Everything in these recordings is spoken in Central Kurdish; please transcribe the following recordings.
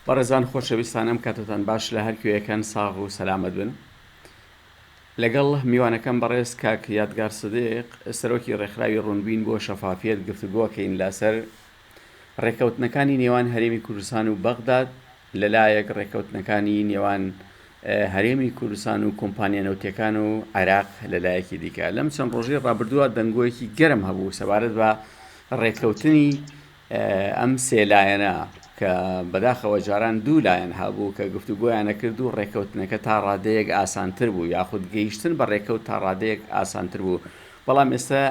بەڕێزان خۆشەویستان ئەم کاتەتان باش لە هەر کوێیەکەن ساغ و سەلامەت بن لەگەڵ میوانەکەم بەڕێز کاک یادگار سدیق سەرۆکی ڕێکخراوی ڕوونبین بۆ شەفافیەت گفتوگۆکەین لەسەر ڕێکەوتنەکانی نێوان هەرێمی کوردستان و بەغداد لەلایەک ڕێکەوتنەکانی نێوان هەرێمی کوردستان و کۆمپانیا نەوتەکان و عێراق لەلایەکی دیکە لەم چەند ڕۆژی ڕابردووە دەنگۆیەکی گەرم هەبوو سەبارەت بە ڕێکەوتنی ئەم سێ لایەنە کە بەداخەوە جاران دوو لایەن هەبوو کە گفتوگۆیان نەکرد و ڕێککەوتنەکە تا ڕادەیەک ئاسانتر بوو یاخود گەیشتن بە ڕێککەوت تا ڕادەیەک ئاسانتر بوو بەڵام ئێستا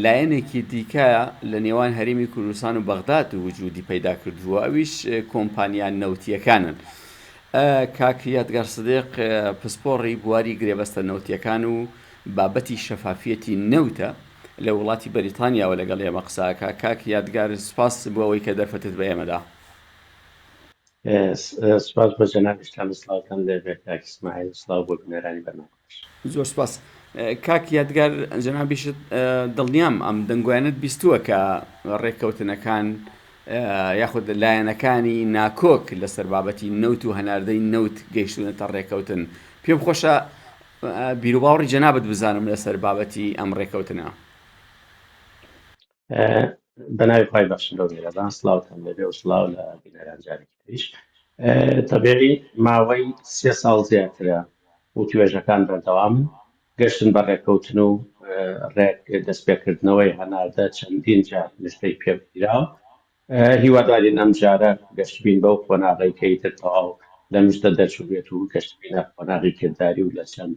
لایەنێکی دیکە لە نێوان هەرمی کوردستان و بەغداد و وجودی پەیدا کردووە ئەویش کۆمپانیان نەوتیەکانن. کاکریات گەڕسدق پسپۆڕی بواری گرێبەستە نەوتیەکان و بابەتی شەفافیەتی نەوتە لە وڵاتی بەریتانیاوە لەگەڵ ئێمە قسە ئەکا کاک یادگار سپاس بۆ ئەوەی کە دەرفەتت بە ئێمە دا. سپاس بۆ جەنابیشتان و سڵاوتان لێ بێ کاک ئیسماعیل و سڵاو بۆ بینەرانی بەرنامەکەش. زۆر سپاس کاک یادگار جەنابیشت دڵنیام ئەم دەنگۆیانەت بیستووە کە ڕێککەوتنەکان یاخود لایەنەکانی ناکۆک لەسەر بابەتی نەوت و هەناردەی نەوت گەیشتونەتە ڕێککەوتن پێم خۆشە بیروباوڕی جەنابت بزانم لەسەر بابەتی ئەم ڕێکەوتنە. بەناوی خی بەخشندۆ میێرەبان سلااوان لەبێ و سلااو لە بینەرانجارێکیش تەبێری ماوەی سێ ساڵ زیاترە و توێژەکان بەردەوامن گەشتن بە ڕێککەوتن و ڕێک دەستپێکردنەوەی هەناردە چەندین جار نشتەی پێبگیرا هیوادارین ئەمجارە گەشبین بەو قۆناغەی کە ئیتر تەواو لە مژدە دەرچووبێت و گەشبینە قۆناغی کرداری و لە چەند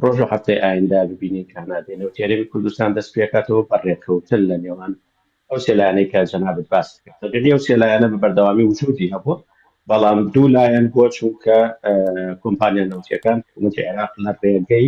ڕۆژ و هەفتەی ئایندە ببینین کە هەناردەی نەوتی هەرێمی کوردستان دەست پێکاتەوە بە ڕێککەوتن لە نێوان ئەو سێ لایەنەی کە جەنابت باست کرد تەبیعی ئەو سێ لایەنە بە بەردەوامی وجودی هەبووە بەڵام دوو لایەن بۆ چونکە کۆمپانیا نەوتیەکان حکوومەتی عێراق لە ڕێگەی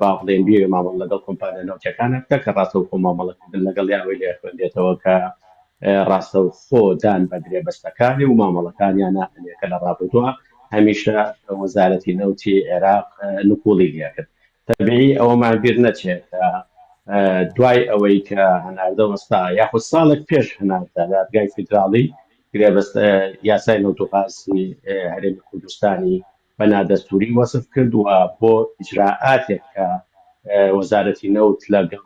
با بڵێین بێ مامەڵە لەگەڵ کۆمپانیا نەوتییەکان بکە کە ڕاستەوخۆ مامەڵەکردن لەگەڵی ئەوەی لێ خوێندێتەوە کە ڕاستەوخۆ دان بە گرێبەستەکانی و مامەڵەکانیان نانێ کە لە ڕابردووە هەمیشە وەزارەتی نەوتی عێراق نکوڵی لێکرد تەبیعی ئەوەمان بیر نەچێ کە دوای ئەوەی کە هەناردە وەستا یاخود ساڵێک پێش هەناردە دادگای فیدراڵی گرێبەست یاسای نەوت و غازی هەرێمی کوردستانی بە نادەستووری وەسف کرد و بۆ ئیجرائاتێک کە وەزارەتی نەوت لەگەڵ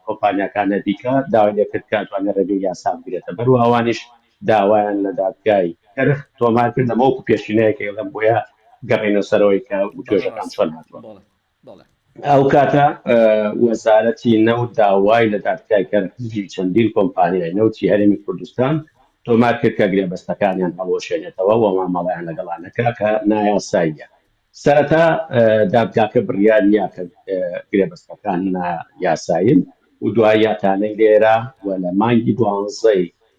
کۆمپانیاکانە دیکە داوای لێکرد کە ئەتوانێت ڕێگەی یاسا بگرێتە بەر و ئەوانیش داوایان لە دادگای کەرخ تۆمار کرد لەمەوکو پێشینەیەکە ئێڵێم بۆیە گەڕێنە سەرەوەی کە وتوێژەکان چۆن هاتووە. بەڵێ. ئەو کاتە وەزارەتی نەوت داوای لە دادگای کەرکووکی چەندین کۆمپانیای نەوتی هەرێمی کوردستان تۆمار کرد کە گرێبەستەکانیان هەڵوەشێنێتەوە و مامەڵەیان لەگەڵا نەکا کە نایاساییە. سەرەتا دادگاکە بڕیاری یا کە گرێبەستەکان نایاسایین و دواییاتانەی لێرا و لە مانگی دوانزەی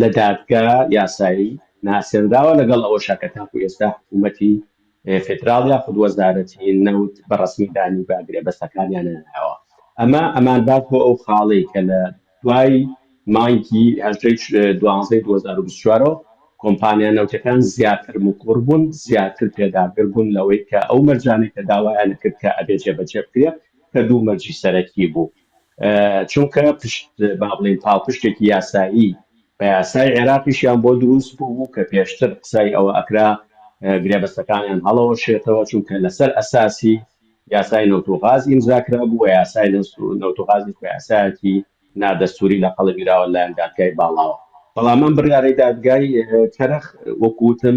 لە دادگا یاسایی ناسێنراوە، لەگەڵ ئەوەشا کە تاکو ئێستا حکوومەتی فیدراڵ یاخود وەزارەتی نەوت بە ڕەسمی دانی بە گرێبەستەکانیان نەناوە. ئەمە ئەمانبات بۆ ئەو خاڵەی کە لە دوای مانگی هەژدەی دوانزەی دوو هەزار و بیست و چوار ەوە کۆمپانیا نەوتیەکان زیاتر مکوڕ بوون، زیاتر پێداگر بوون لەوەی کە ئەو مەرجانەی کە داوایان ئەکرد کە ئەبێ جێبەجێ بکرێ کە دوو مەرجی سەرەکی بوو. چونکە پشت با بڵێین پاڵپشتێکی یاسایی بە یاسای عێراقیشیان بۆ دروست بوو کە پێشتر قسای ئەوە ئەکرا گرێبەستەکانیان هەڵەوەشێتەوە چونکە لەسەر ئەساسی یاسای نەوت و غاز ئیمزا کرابوو و یاسای نەوت و غازیش بە یاسایەکی نادەستووری لە قەڵبیراوە لەلایەن دادگای باڵاوە بەڵام ئەم بڕیارەی دادگای کەرخ وەکو وتم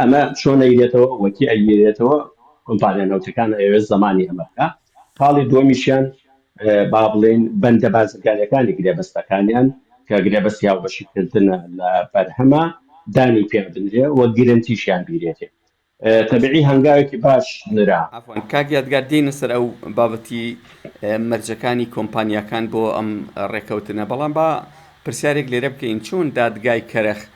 ئەمە چۆن ئەیرێتەوە وەکی ئەیگیرێتەوە کۆمپانیا نەوتەکان ئەیەوێت زەمانی ئەمە بکە خاڵی دووەمیشیان با بڵێن بەندە بازرگانەکانی گرێبەستەکانیان کە گرێبەستی هاوبەشیکردنە لە بەرهەمە دانی پێ بدرێ و گرنتیشیان بیرێتێ تەبعی هەنگاوێکی باش نرا. عەفوەن کاک یادگار دێینە سەر ئەو بابەتی مەرجەکانی کۆمپانیاکان بۆ ئەم ڕێکەوتنە بەڵام با پرسیارێک لێرە بکەین چۆن دادگای کەرخ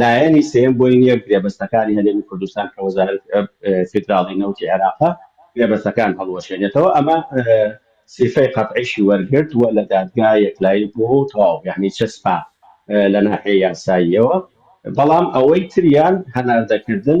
لایەنی سێیەم بۆی نییە گرێبەستەکانی هەرێمی کوردستان کە وەزارەت فیدراڵی نەوتی عێراقە گرێبەستەکان هەڵوەشێنێتەوە، ئەمە سیفەی قەتعیشی وەرگرت و لە دادگا یەکلایی بووە و تەواو یانی چەسپا لە ناحیەی یاساییەوە، بەڵام ئەوەی تریان هەناردەکردن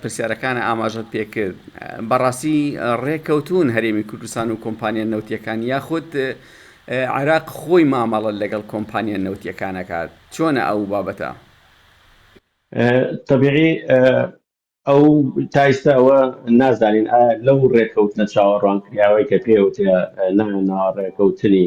پرسیارەکانە ئاماژەت پێکرد بەڕاستی ڕێککەوتوون هەرێمی کوردستان و کۆمپانیا نەوتیەکان یاخود عێراق خۆی مامەڵە لەگەڵ کۆمپانیا نەوتیەکانەکات چۆنە ئەو بابەتە؟ تەبیعی ئەو تایستە ئەوە نازانین ئایا لەو ڕێککەوتنە چاوەڕوان کراوەی کە پێوتە ناوە ڕێککەوتنی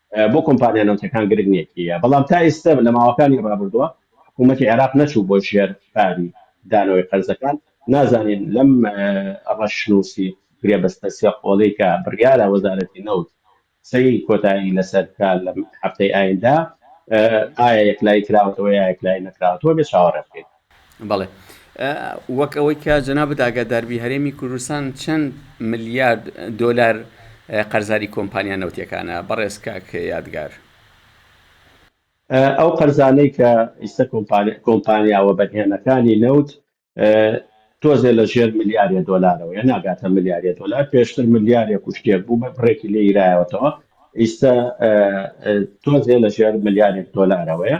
بۆ کۆمپانیا نەوتیەکان گرنگ نیە کێیە، بەڵام تا ئیستە لە ماوەکانی ڕابردوە حکومەتی عێراق نەچوو بۆ ژێر پاری دانەوەی قەرزەکان، نازانین لەم ڕەشنوسی گرێبەستە سێ قۆڵەی کە بڕیارە وەزارەتی نەوت قسەی کۆتایی لەسەر بکا لەم هەفتەی ئایندە ئایا یەکلایی کراوەتەوە یا یەکلایی نەکراوەتەوە بێ چاوەڕێ بکەین. بەڵێ وەک ئەوەی کە جەنابت ئاگادار بی هەرێمی کوردستان چەند ملیارد دۆلار قەرزاری کۆمپانیا نەوتیەکانە بەڕێز کاک یادگار. ئەو قەرزانەی کە ئیستە کۆمپانیا وەبەرهێنەکانی نەوت تۆزێ لە ژێر ملیارێ دۆلارەوەیە ناگاتە ملیارێ دۆلار پێشتر ملیارێک و شتێک بوو بە بڕێکی لێ یرایەوەتەوە ئیستە تۆزێ لە ژێر ملیارێک دۆلارەوەیە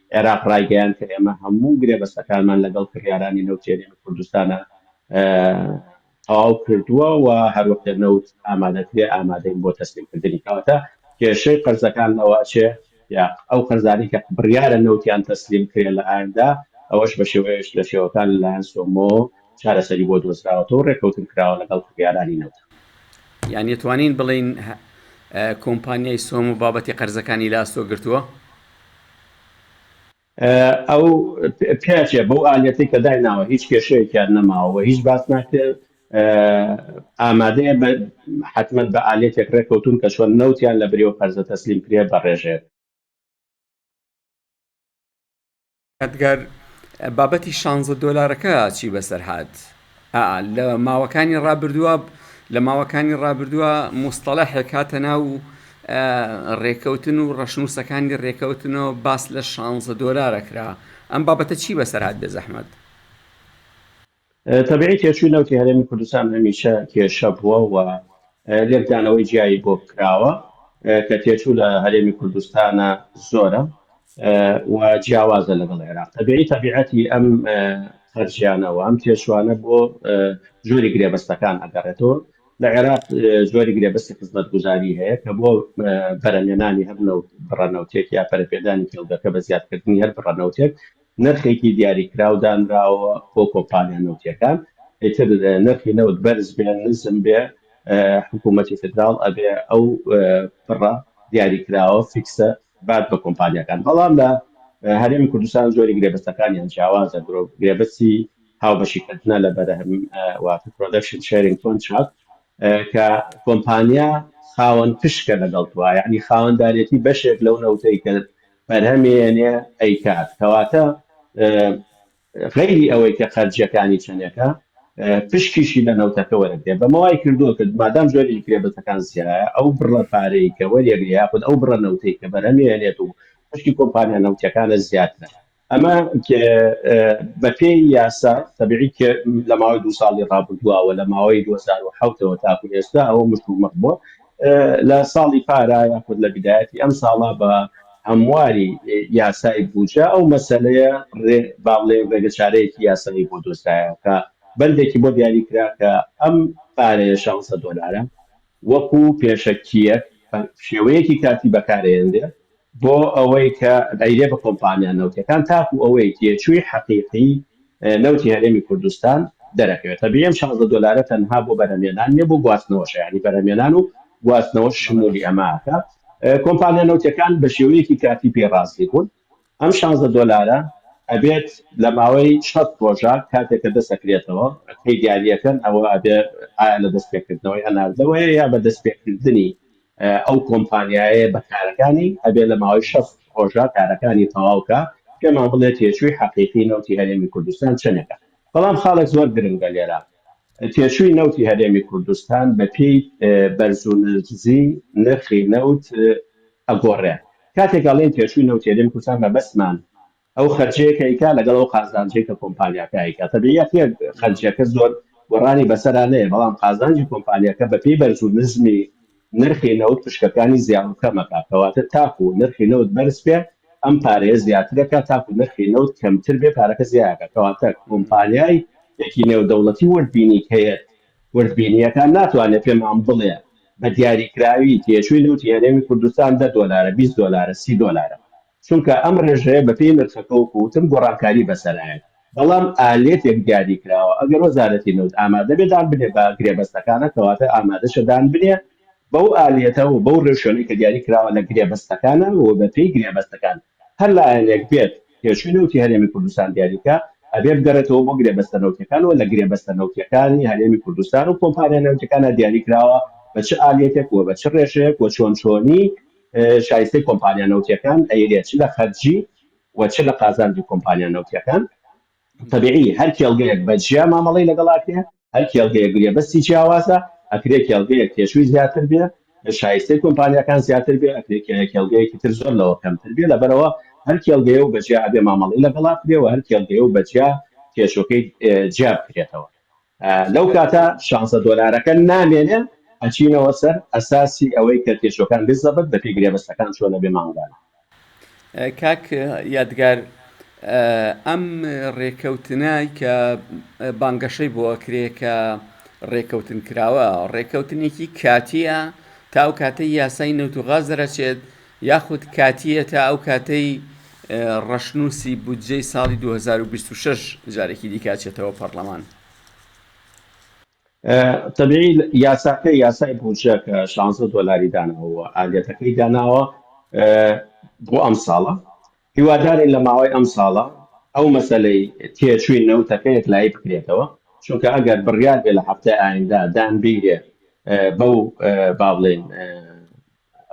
عێراق ڕایگەیاند کە ئێمە هەموو گرێبەستەکانمان لەگەڵ کڕیارانی نەوتی هەرێمی کوردستانە تەواو کردووە و هەروەک لە نەوت ئامادە کرێ ئامادەین بۆ تەسلیم کردنی کەواتە کێشەی قەرزەکان لەوە ئەچێ یا ئەو قەرزانی کە بڕیارە نەوتیان تەسلیم کرێ لە ئایندا ئەوەش بە شێوەیەش لە شێوەکان لەلایەن سۆمۆ چارەسەری بۆ دۆزراوەتەوە و ڕێککەوتن کراوە لەگەڵ کڕیارانی نەوت. یان دەتوانین بڵێین کۆمپانیای سۆمۆ بابەتی قەرزەکانی لە ئەستۆ گرتووە؟ ئەو پیاچێ بەو ئالیەتەی کە دایناوە هیچ کێشەیەکیان نەماوە و هیچ باس ناکرێت ئامادەیە بە حتممە بە ئالیەتێک ڕێککەوتون کە چۆن نەوتیان لە بریەوە قەرزە تەسلیم کرێ بەڕێژێت ئەدگار، بابەتی شانزە دۆلارەکە چی بەسەر هات؟ ئا، لە ماوەکانی ڕابردووە، لە ماوەکانی ڕابردووە موستەڵەحێک هاتە ناو ڕێکەوتن و ڕەشنووسەکانی ڕێکەوتنەوە باس لە شانزە دۆلارە کرا، ئەم بابەتە چی بەسەر هات بێزەحمەت؟ تەبعی تێچووی نەوتی هەرێمی کوردستان هەمیشە کێشە بووە و لێکدانەوەی جیایی بۆ کراوە کە تێچوو لە هەرێمی کوردستانە زۆرە و جیاوازە لەگەڵ عێراق تەبعی تەبیعەتی ئەم خەرجیانە و ئەم تێچوانە بۆ جۆری گرێبەستەکان ئەگەڕێتەوە لە عێراق جۆری گرێبەستی خزمەتگوزاری هەیە کە بۆ بەرەمێنانی هەر نەوت بڕەنەوتێک یا پەرەپێدانی کێڵگەکە بە زیادکردنی هەر بڕەنەوتێک نرخێکی دیاریکراو دانراوە بۆ کۆمپانیا نەوتییەکان، ئیتر نرخی نەوت بەرز بێ نزم بێ حکوومەتی فیدراڵ ئەبێ ئەو پڕە دیاریکراوە فیکسە بات بە کۆمپانیاکان، بەڵام لە هەرێمی کوردستان زۆری گرێبەستەکانیان جیاوازە، گرێبەستی هاوبەشیکردنە لە بەرهەم واتە Production Sharing Contract کە کۆمپانیا خاوەن پشکە لەگەڵ تۆ، یانی خاوەندارێتی بەشێک لەو نەوتەی کە بەرهەمی ئەنێ ئەیکات کەواتە غەیری ئەوەی کە خەرجیەکانی چەنێکە پشکیشی لە نەوتەکە وەرەگرێ بەمە وای کردووە کە مادام جۆری گرێبەستەکان زیایە ئەو بڕە پارەی کە وەریەگرێ یاخود ئەو بڕە نەوتەی کە بەرهەمی ئەنێت و پشکی کۆمپانیا نەوتیەکانە زیاترە ئەمە بە پێی یاسا تەبیعی کە لە ماوەی دوو ساڵی ڕابردووە لە ماوەی دوو هەزار و حەوت ەوە تاکو ئێستا ئەوە مشتومڕ بووە لە ساڵی پارا یاخود لە بیدایەتی ئەم ساڵا بە هەمواری یاسای بوجە ئەو مەسەلەیە رێ با بڵێین رێگە چارەیەکی یاسایی بۆ دۆزرایەوە کە بەندێکی بۆ دیاری کرا کە ئەم پارەیە شازدە دۆلارە وەکو پێشەکییەک بە شێوەیەکی کاتی بەکارەیەنرێ بۆ ئەوەی کە ئەیرێ بە کۆمپانیا نەوتییەکان تاکوو ئەوەی تێچووی حەقیقی نەوتی هەرێمی کوردستان دەرەکەوێت. تەبیعی ئەم شازدە دۆلارە تەنها بۆ بەرهەمێنان نییە، بۆ گواستنەوەشە، یانی بەرهەمێنان و گواستنەوەش شمولی ئەمە ئەکا. کۆمپانیا نەوتییەکان بە شێوەیەکی کاتی پێی ڕازی بوون ئەم شازدە دۆلارە ئەبێت لە ماوەی شەست ڕۆژە کاتێک کە دەست ئەکرێتەوە پەیدارییەکەن، ئەوە ئەبێ ئایا لە دەستپێکردنەوەی هەناردەوەیە یا بە دەستپێکردنی؟ ئەو کۆمپانیایەیە بە کارەکانی ئەبێ لە ماوەی شەست ڕۆژدا کارەکانی تەواو کا پێمان بڵێ تێچووی حەقیقی نەوتی هەرێمی کوردستان چەنێکە بەڵام خاڵێک زۆر گرنگە لێرە تێچووی نەوتی هەرێمی کوردستان بە پێی بەرز و نزی نرخی نەوت ئەگۆڕێ کاتێک ئەڵێن تێچووی نەوتی هەرێمی کوردستان مەبەستمان ئەو خەرجیەی کە ئەیکا لەگەڵ ئەو قازانجەی کە کۆمپانیاکە ئەیکا تەبیعیە کە خەرجیەکە زۆر گۆڕانی بەسەرا نەیە بەڵام قازانجی کۆمپانیاکە بە پێی بەرز و نزمی نرخی نەوت پشکەکانی زیاد و کەم ئەکا کەواتە تاکو نرخی نەوت بەرز بێ ئەم پارەیە زیاتر ئەکا تاکو نرخی نەوت کەمتر بێ پارەکە زیا ئەکا کەواتە کۆمپانیای یەکی نێودەوڵەتی وردبینیک هەیەت وردبینیەکان ناتوانێ پێمان بڵێ بە دیاریکراوی تێچووی نەوتی هەرێمی کوردستان دە دۆلارە بیست دۆلارە سی دۆلارە چونکە ئەم ڕێژەیە بەپێی نرخەکە وەکو وتم گۆڕانکاری بەسەرایەت بەڵام ئالێتێک دیاری کراوە ئەگەر وەزارەتی نەوت ئامادە بێ دان بنێ بە گرێبەستەکانە کەواتە ئامادەشە دان بنێ بەو ئالێتە و بەو ڕێوشوێنەی کە دیاری کراوە لە گرێبەستەکانە و بەپێی گرێبەستەکان هەر لایەنێک بێت تێچووی نەوتی هەرێمی کوردستان دیاری بکا ئەبێ بگەڕێتەوە بۆ گرێبەستە نەوتیەکان و لە گرێبەستە نەوتیەکانی هەرێمی کوردستان و کۆمپانیا نەوتیەکانە دیاری کراوە بە چ ئالێتێک و بە چ ڕێژەیەک و چۆن چۆنی شایستەی کۆمپانیا نەوتییەکان ئەیرێ چ لە خەرجی و چ لە قازانجی کۆمپانیا نەوتییەکان. تەبیعی هەر کێڵگەیەک بە جیا مامەڵەی لەگەڵ ئەکرێ، هەر کێڵگەیەک گرێبەستی جیاوازە، ئەکرێ کێڵگەیەک تێچووی زیاتر بێ، شایستەی کۆمپانیاکان زیاتر بێ، ئەکرێ کێڵگەیەکی تر زۆر لەوە کەمتر بێ، لەبەرئەوە هەر کێڵگەیە و بە جیا ئەبێ مامەڵەی لەگەڵا بکرێ و هەر کێڵگەیە و بە جیا کێشەکەی جیا بکرێتەوە. لەو کاتە شانزە دۆلارەکە نامێنێ ئەچینەوە سەر ئەساسی ئەوەی کە تێچوەکان بێ زەبت دەکەی گرێبەستەکان چۆنە بێ مانگانە. کاک یادگار ئەم ڕێکەوتنە کە بانگەشەی بۆ ئەکرێ کە ڕێکەوتن کراوە ڕێکەوتنێکی کاتیە تاو کاتەی یاسای نەوت و غاز دەرەچێت یاخود کاتییە تا ئەو کاتەی ڕەشنووسی بودجەی ساڵی دوو هەزار و بیست و شەش جارێکی دیکە ئەچێتەوە پەڕڵەمان؟ تەبیعی یاساکە یاسای بودجە کە شانزە دۆلاری داناوە و ئالیەتەکەی داناوە بۆ ئەمساڵە، هیوادارین لە ماوەی ئەمساڵە ئەو مەسەلەی تێچووی نەوتەکە یەکلایی بکرێتەوە، چونکە ئەگەر بڕیار بێ لە هەفتەی ئایندە دانبیرێ بەو با بڵێین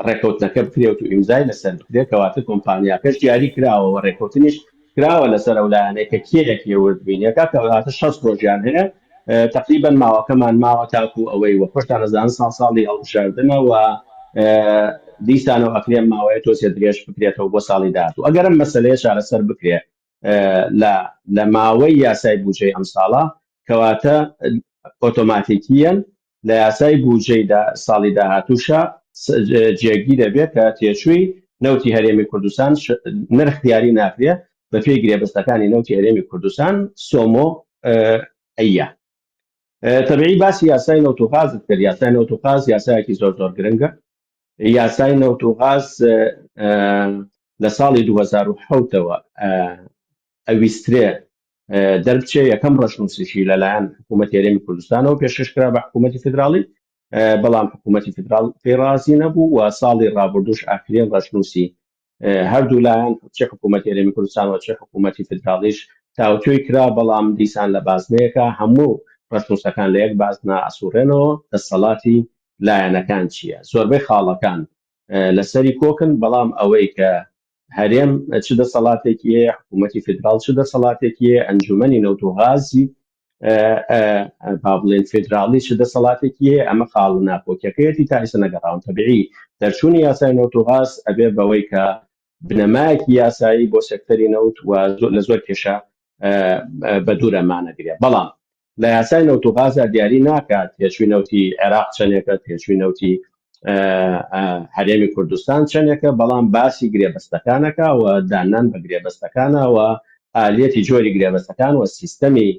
ڕێکەوتنەکە بکرێت و ئیمزای لەسەر بکرێت کەواتە کۆمپانیاکەش دیاری کراوە وە ڕێکەوتنیش کراوە لەسەر ئەو لایەنەی کە کێ یەکێ ورد بینێکا کەواتە شەست ڕۆژیان هەیە تەقریبەن ماوەکەمان ماوە تاکو ئەوەی وە خۆشتان ئەزانن ساڵ ساڵی هەڵبژاردنە وە دیسانەوە ئەکرێ ماوەیە تۆزێ درێژ بکرێتەوە بۆ ساڵی داهاتوو ئەگەر ئەم مەسەلەیە چارەسەر بکرێ لە لە ماوەی یاسای بوجەی ئەم ساڵە کەواتە ئۆتۆماتیکیەن لە یاسای بودجەی ساڵی داهاتووشا جێگی دەبێت کە تێچووی نەوتی هەرێمی کوردستان نرخ دیاری ناکرێ بە پێی گرێبەستەکانی نەوتی هەرێمی کوردستان سۆمۆ ئەیە تەبعی باسی یاسای نەوت و غازت کرد یاسای نەوت و غاز یاسایەکی زۆر زۆر گرنگە یاسای نەوت و غاز لە ساڵی 2010ەوە ئەویسترێ دەربچێ یەکەم ڕەشنووسیشی لەلایەن حکوومەت هێرێمی کوردستانەوە پێشکەشکرا بە حکوومەتی فدراڵی بەڵام حکوومەتی فدرال پێی ڕازی نەبوو و ساڵی ڕابردوش ئاخرین ڕەشنووسی هەردوو لایەن چه حکوومەت هێرێمی کوردستان و چه حکوومەتی فدراڵیش تاوتوێی کرا بەڵام دیسان لە بازنەیەەکە هەموو ڕەشنووسەکان لە یەک بازنا ئەسوڕێنەوە دەسەڵاتی لایەنەکان چییە زۆربەی خاڵەکان لەسەری کۆکن بەڵام ئەوەی کە هەرێم چ دەسەڵاتێکی هەیە حکوومەتتی فیدرال چ دەسەڵاتێکی هەیە ئەنجومەنی نەوتۆغازی با بڵێن فیدراڵی چ دەسەڵاتێکی هەیە ئەمە خاڵ ناپۆکیەکەیەتی تا ئیسە نەگەڕاون تەبیعی دەرچوونی یاسای نەوتۆغاز ئەبێ بەوەی کە بنەمایەکی یاسایی بۆ سەکتەری نەوت و لە زۆر کێشە بە دوورەمانەگرێ بەڵام لە یاسای نەوت و غازدا دیاری ناکات تێچووی نەوتی عێراق چەندێکە تێچووی نەوتی هەرێمی کوردستان چەندێکە بەڵام باسی گرێبەستەکانەکە و دانان بە گرێبەستەکانەوە ئالیەتی جۆری گرێبەستەکان و سیستەمی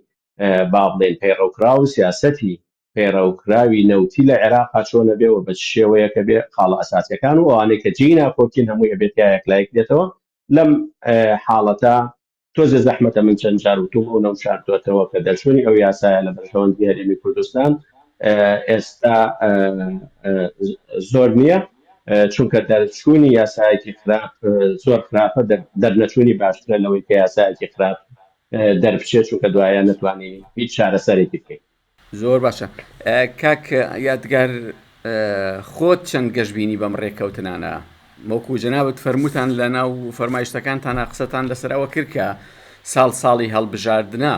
با بڵێن پەیڕەوکرا و سیاسەتی پەیڕەوکراوی نەوتی لە عێراق چۆنە بێ و بە شێوەیەکە بێ خاڵە ئەساسەکان و ئەوانەی کە جێی ناکۆکین هەمووی ئەبێت یایەک لایک دێتەوە لەم حاڵەتە تۆزێ زەحمەتە من چەند جار وتوم ئەو نەم شاردوەتەوە کە دەرچوونی ئەو یاسایە لە بەرژەوەندی هەرێمی کوردستان ئێستا زۆر نییە چونکە دەرچوونی یاسایەکی خراپ زۆر خراپە دەرنەچوونی باشترە لەوەی کە یاسایەکی خراپ دەربچێت چونکە دوایە نتوانانی هیچ چارەسەرێکی بکەین زۆر باشە کاک یادگار خۆت چەند گەشببینی بەم ڕێککەوتنانە وەکو جەنابەت فەرمووتان لە ناو فەرمایشتەکانتانە قسەتان لەسەرەوە کرد کە ساڵ ساڵی هەڵبژاردنە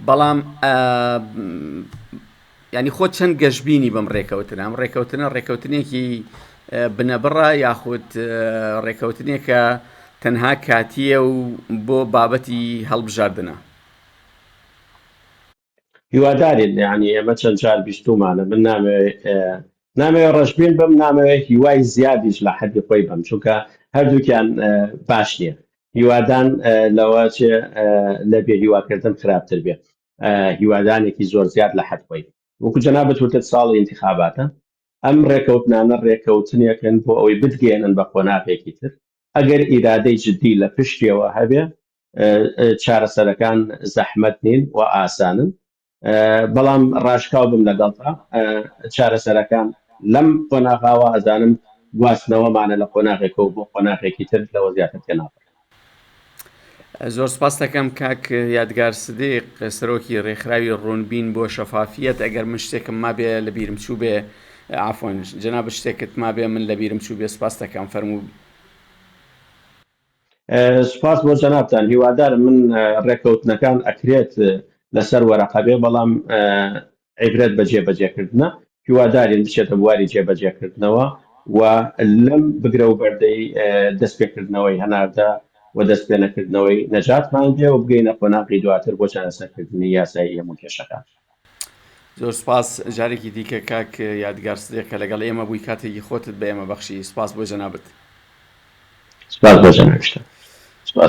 بەڵام ینی خۆ چەند گەشببینی بەم ڕێککەوتنە ئەم ڕێککەوتنە ڕێککەوتنێکی بنەبڕە یاخود ڕێککەوتنێکە تەنها کاتیە و بۆ بابەتی هەڵبژاردنە هیوادارین یانی ئێمە چەند جار بیستومانە من نامەوێ اه، نامەوێ ڕەشبین بم نامەوێ هیوای زیادیش لە حەدی خۆی بم چونکە هەردووکیان اه، باش نییە هیوادان اه، لەوە چێ اه، لە بێ هیواکردن خراپتر بێ اه، هیوادانێکی زۆر زیاد لە حەد خۆی وەکو جەنابت وتت ساڵی انتخاباتە ئەم ڕێکەوتنانە ڕێکەوتنێکن بۆ ئەوەی بتگەێنن بە قۆناغێکی تر ئەگەر ئیرادەی جددی لە پشتیەوە هەبێ چارەسەرەکان زەحمەت نین و ئاسانن بەڵام ڕاشکاو بم لەگەڵتا چارەسەرەکان لەم قۆناغاوە ئەزانم گواستنەوەمانە لە قۆناغێکە و بۆ قۆناغێکی تر لەوە زیاتر تێناپ زۆر سپاس دەکەم کاک یادگار سدیق سەرۆکی ڕێکخراوی ڕوونبین بۆ شەفافیت ئەگەر من شتێکم مابێ لە بیرم چوو بێ ئافۆن جناب شتێکت مابێ من لە بیرم چوو بێ سپاس دەکەم فەرموو سوپاس بۆ جەنابتان هیوادارم من ڕێکەوتنەکان ئەکرێت لەسەر وەرەقە بێ بەڵام عیبرەت بە جێبەجێکردنە هیوادارین بچێتە بواری جێبەجێکردنەوە و لەم بگرە و بەردەی دەستپێکردنەوەی هەناردە و دەستپێنەکردنەوەی نەجاتمان بێ و بگەینە قۆناغی دواتر بۆ چارەسەرکردنی یاسایی هەموو کێشەکان زۆر سوپاس جارێکی دیکە کاک یادگار سدیق کە لەگەڵ ئێمە بووی کاتێکی خۆتت بە ئێمە بەخشی سوپاس بۆ جەنابت سوپاس بۆ جەنابشتە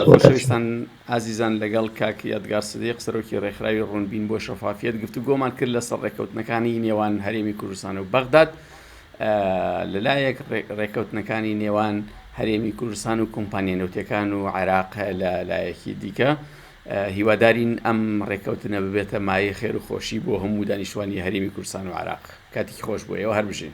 خۆشەویستان ئازیزان لەگەڵ کاک یادگار سدیق سەرۆکی ڕێکخراوی ڕوونبین بۆ شەفافیت گفتو گۆمان کرد لە سەر ڕێککەوتنەکانی نێوان هەرێمی کوردستان و بەغداد لەلایەک ڕێککەوتنەکانی نێوان هەرێمی کوردستان و کۆمپانیە نەوتەکان و عێراق لە لایەکی دیکە هیوادارین ئەم ڕێککەوتنە ببێتە مایەی خێر و خۆشی بۆ هەموو دانیشتوانی هەرێمی کوردستان و عێراق. کاتێکی خۆش بۆ ئێوە، هەربژین.